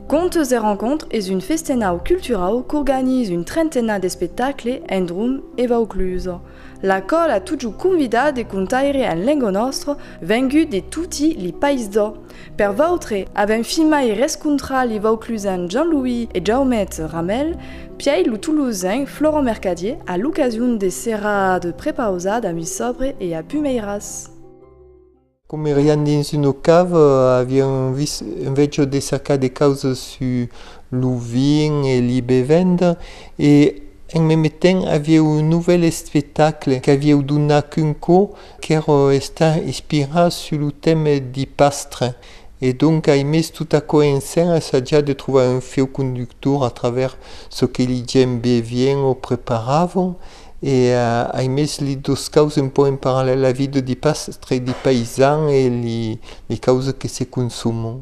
Contes e Rencontres es un festenau culturau qu'organize un trentena d'espectacles en Drùm e Vauclús. La còl a totjorn convidat de contaire en lenga nòstra vengut de toti li païsdò. Per vautre, avèm fin mai rescontrat li vauclusan Jean-Louis e Jaumet Ramèl piai lo tolosen Florent Mercadier a l'ocasion de serrada de prepausat a Misobre e a Pumeiras. Comerián dins una cava, avián un viç enveja de cercar de causas sus lo vin e li bevenda e en meme temps avieu un novèl espectacle qu'avieu donat qu'un cò Quero estar ispirat sus lo teme di Pastre e donc ai mes tot aquò en scèn assajat de trobar un feu conductor a travèrs çò que li gèm bevièn o preparavon e ai mes lit dos caus un pauc en parallèl la vida di Pastre e di Paisan e li causes que se consomon.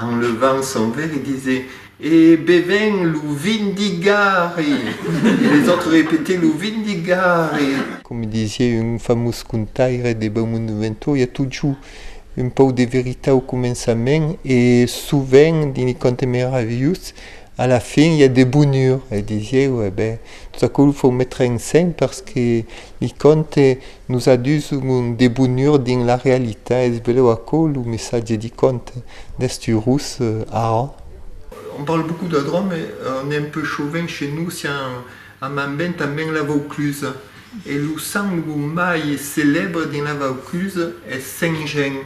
Enlevant son vere dise, E beven lo vin d'Igari! E les autres repete, Lo vin d'Igari! Coma disié un famós contaire de Beaumont de Ventoria, totjou un pauc de veritat au començament e sovent dins li contes meravilhós, a la fin i a de bonur. E disié, E ben, tot aquò lo fau metre en scène perque li contes Nos a dus un debonur dins la realitat, es belèu aquò lo messatge di conte d'Stu Rus, ara? On parle beaucoup de Dròme e on est un peu chauvin chez nous si a Mambèn tanben la Vaucluse e lo sang lo mai celèbre dins la Vaucluse es Saint-Jean,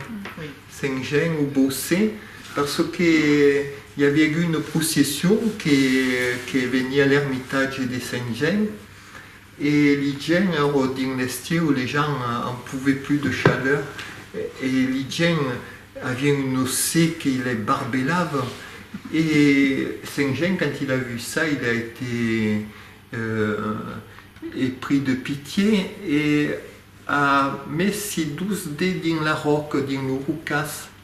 Saint-Jean o Bossé parce que i aviá agut una procession que veniá l'ermitatge de Saint-Jean. E li gents ero dins l'estiu, les gens en pouvaient plus de chaleur e li gents avien un ossé que les barbelava e Saint Jean quand il a vu ça il a été épris de pitié e a mes si dous dets dins la ròca, dins lo rocàs.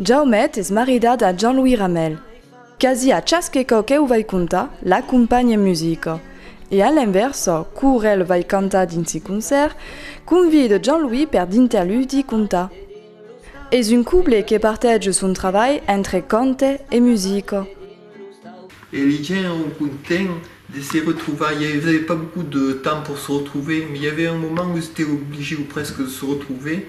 Jaumet es maridat a Jean-Louis Ramel. Quasi a chasque cò qu'eu vai contar, l'acompanhe musica. E a l'invèrsa, cour el vai cantar dins se concèrt, convide Jean-Louis per dinter l'udi contar. Es un couple que partege son travalh entre cante e musica. E li gents èu content de se retrovar. I avève pas beaucoup de temps pour se retrouver, mais i avève un moment où s'éteu obligeu presque de se retrouver.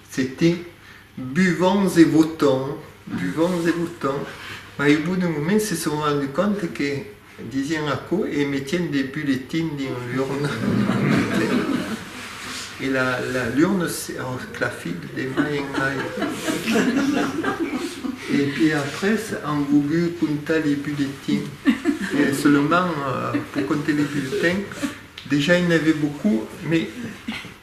C'était buvons et votons, buvons et votons, mai au bout d'un moment se son rendu compte que disián aquò e metián de bulletins dins l'urna e la l'urna se clafit de mai en mai e puis après an vougut comptar les bulletins e seulement pour compter les bulletins dejà i n'avait beaucoup mais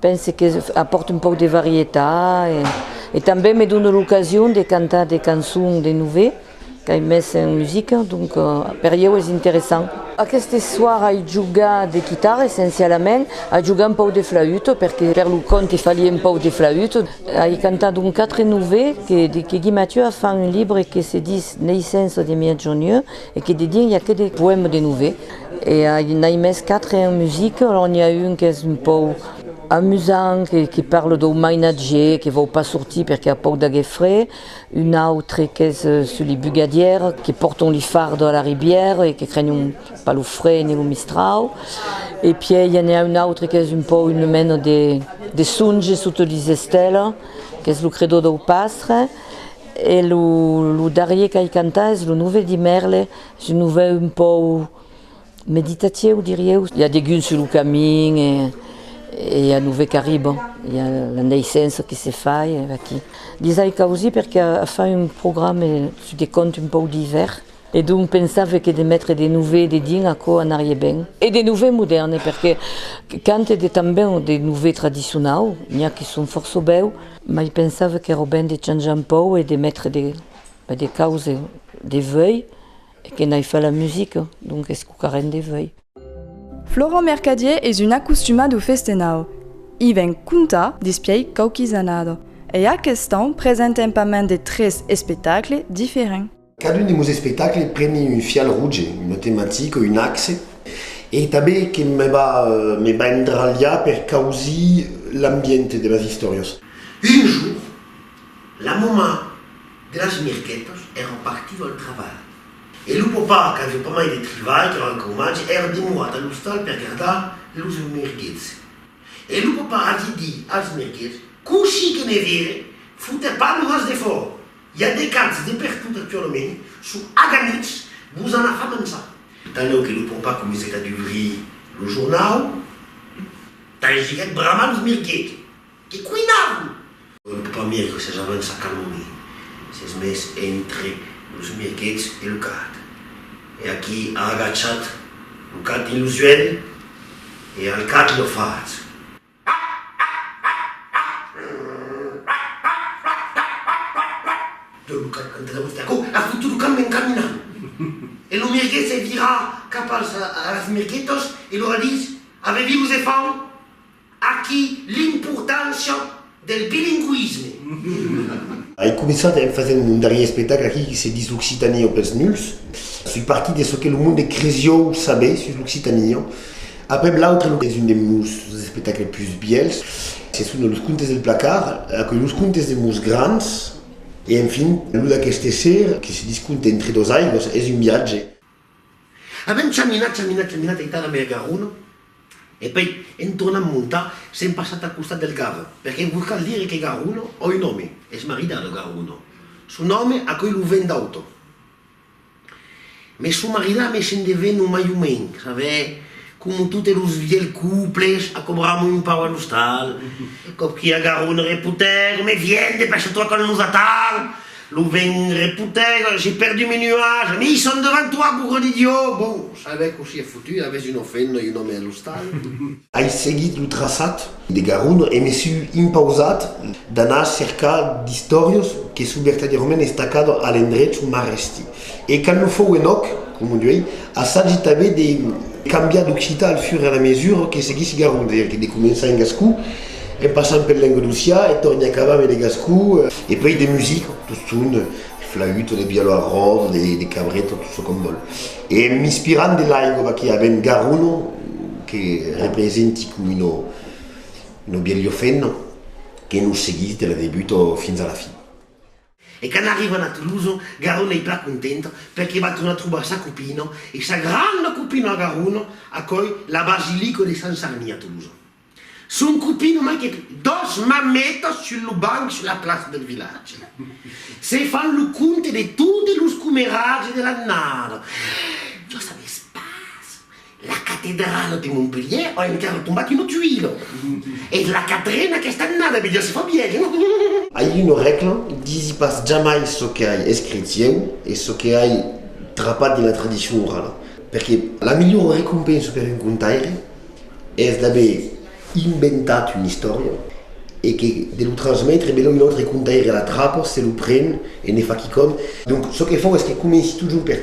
Pense que apòrte un pauc de varietat e tanben me done l'ocasion de cantar de cançons de novèl qu'ai mes en musica, donc per ieu es interessant. Aqueste soir ai jogat de quitara essencialament, ai jogat un pauc de flaüt perque per lo conte falie un pauc de flaüt, ai cantat un quatre novèl que Guy Mathieu a fan un libre que se dis Naissance de Mièg Jonheu E que de dire, i a que de poèmes de nouvelles, e i n'ai mès quatre en musique, alors n'i a un qu'es un pòu amusant, que que parle dau mainatge, que vòu pas sortir perque a pòu d'aguer fred, un autre qu'es sur li bugadières que pòrton li fardo a la ribière e que crenon pas lo fred ni lo mistrau, e pièi i a ne a un autre qu'es un pòu une mena de de songe sote lis estèles, qu'es lo credó dau pastre, E lo darrier qu'ai cantat es lo nove di Merle, es un nove un pòu meditatieu dirieu. I a degun sus lo camin e i a nove qu'arribon, i a la naissença que se fa e aquí. Lhes ai causí perque a fa un programe sus de contes un pòu divèrs. E donc pensave que de metre de nouve dedins aquò anarie ben. E de nouve modèrne, perque quand e de tanben de nouve tradicionau, n'i a que son fòrça bèu, mai pensave qu'èra ben de chanjar un pòu e de metre de de cause de vei e que n'ai fai la musica, donc escucarem de vei. Florent Mercadier es un acostumat au festenau. I ven contar despièi quauquis annada e aqueth ans presentem pas mens de tres espectacles diferents. Cadun de meus espectacles preni un fial rouge, una tematica, un axe e tanben que me va me va endralhar per causir l'ambient de las istòrias. Un jorn, la mamà de las mirquetas èra partida al trabalh e lo papà qu'aviá pas mai de trivalh qu'èra encau matge èra demorat a l'ostal per gardar los mirguets. E lo papà aviá dit als mirguets, Cossí que me vire, fotèt pas lo nas defòra! I a de cants de pertot actualament sur Aganitz, vos an a far manjar. Tanlèu que lo pompar comencèt a dubrir lo jornau, tangiguèt bramant los mirguets que cuinavan. Un pompar mirgue assajava un sacaloni, s'es mes entre los mirguets e lo gat, e aquí a agachat lo gat dins lo suèlh e al gat lo fach. E lo mirguet se vira cap als mirguetos e lor ditz, Avevi vos e fau aquí l'importància del bilingüisme. Ai começat en fasent un darrier espectacle aquí que se ditz l'Occitania o pels nuls. Soi partit de çò que lo monde cresiou saber sus l'Occitania. Aprèp l'autre es un de meus espectacles pus bièlhs, se son Los contes del placard, aquò Los contes de meus grands e enfin lo d'aqueste ser que se disconte entre dos aigües, es un viatge. Avèm chaminat, chaminat, chaminat aitada mai a Garonne e pei en tornant montar s'èm passat al costat del Garo, perque vos cal dire que Garonne a un òme, es maridada Garonne, son òme aquò lo vent d'auto. Me son maridat me se'n devèn o mai o menc, sabèu, coma totes los vielhs couples, acobram un pauc a l'ostal, còp qu'i agarro un repotègo, me vièn, depaixa-toi quand nos attend, lo vènh repotègo, j'ai perdu mes nuages, mais ils sont devant toi, bougre d'idiot, bon, sabèu cossí a fotut, avètz un ofèndo e un òme a l'ostal. Ai seguit lo traçat de Garun e me sui impausat d'anar cercar d'istòrios que sou vertadierament estacado a l'endrech on m'arrèsti. E quand lo fou en òc, coma d'uèi, assagi tanben de cambiar d'occitan al fur e a la mesura que seguissi Garun, veire que de començar en gascon, en passant pel lengadocian e torni acabar ambe de gascon, e puèi de musica, toston, de flaüta, de violon a ròda, de cabreta, tot çò qu'òm vòl. E m'inspirant de l'aigua que avèm Garuno que representi com uno uno bielho fenno que nos seguís de la debuta fins a la fin. E quand arrivan a Toulouse, Garuno ei plan contenta perque va tornar trobar sa copina e sa granda copina a Garuno, aquòi la basilica de Sant Sarni a Toulouse. Son copin o manquèt dos marmetas sul lo banc sus la plaça del vilatge. Se fan lo compte de totes los comeratges de l'annada. Jos a l'espaç, la catedrala de Montpelhièr a encara tombat una tuila. Es la quatrena aquesta annada, mès ja se fa vièlha. Ai una règla, disi pas jamai çò que ai escrich ieu e çò que ai trapat dins la tradicion orala, perque la melhora recompensa per un contaire Es d'aver inventat una istòria e que de lo transmetre, melhor un autre contaire la trapa, se lo pren e ne fa quicòm. Donc çò que fau es que comenci totjorn per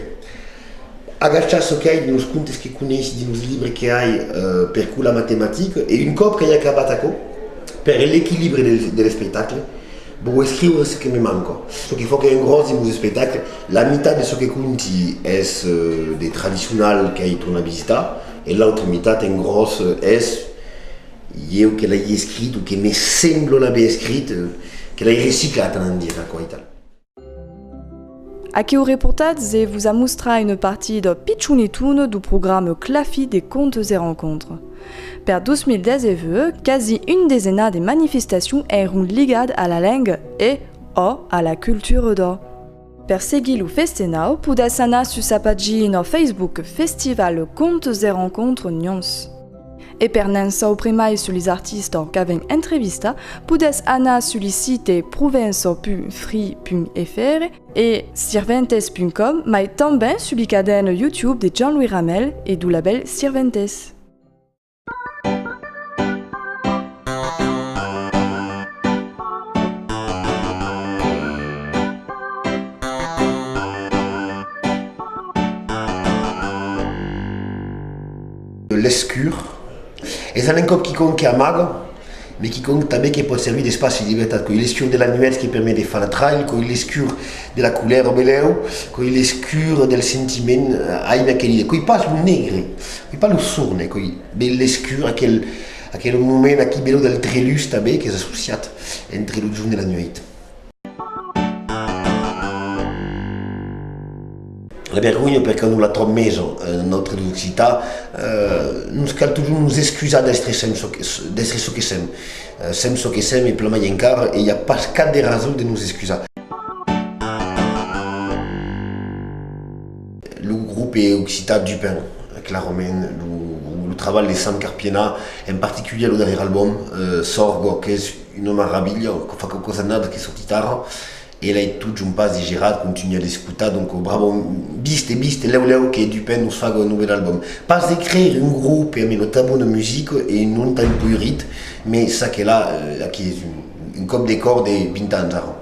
agachar çò qu'ai dins los contes que coneissi, dins los libres que ai per cur la matematica e un còp qu'ai acabat aquò, per l'equilibre de l'espectacle, vau escriure çò que me manca. Çò que fau qu'es un gròs dins los espectacles, la mitat de çò que conti es de tradicional qu'ai tornat visitar, E l'autre mitat en gròs es ieu que l'ai escrit o que me semblo l'aver escrit, que l'ai reciclat a l'endir aquò e tal. Aquiu reportatz e vos amostrar una partida pichonetona dau programa Clafi de Contes e Rencontres. Per 2019, quasi un desenar de manifestacions èron ligat a la lenga e, ò, a la cultura dò. Per seguir lo festenau podàs anar sus sa pagina Facebook Festival Contes et Rencontres Nyons. E per n'en saupre mai sus les artistas qu'avèm entrevistat podàs anar sus li site provença.fri.fr e sirventes.com mai tanben sus li cadèn YouTube de Jean-Louis Ramel e du labèl Sirventes. L'escur es un encòp quicòm que amaga. Mai quicòm tanben que pòt servir d'espaci de libertat coi l'escur de la nuèch que permet de far la trail, coi l'escur de la coulèr au belèu, coi l'escur del sentiment aibe aquel dia, coi pas lo negre, coi pas lo sorne, coi be l'escur, aquel aquel moment aquí belèu del trelús tanben qu'es associat entre lo jorn e la nuèit. La vergonha per que non la tròb mes en nòstre l'occitan, nos cal totjorn nos excusar d'èstre sèm çò que d'èstre çò que sèm, sèm çò que sèm e plamai encara e i a pas cap de rason de nos excusar. Lo grop e occitan Dupin, clarament lo trabalh de Sam Carpiena, en particulièr lo darrièr albòm, Sorgo, qu'es. Una maravilha, que fa quauquas annadas que soti tara, ela e tot John Pas de Gerard contunha d'escotar, donc bravo, viste, viste, lèu, lèu que Dupin nos faga un novèl album, pas de creire un grope amb una tan bona musica e un nom tan colorit, me ça que la, aquí es un còp de còr de 20 ans ara.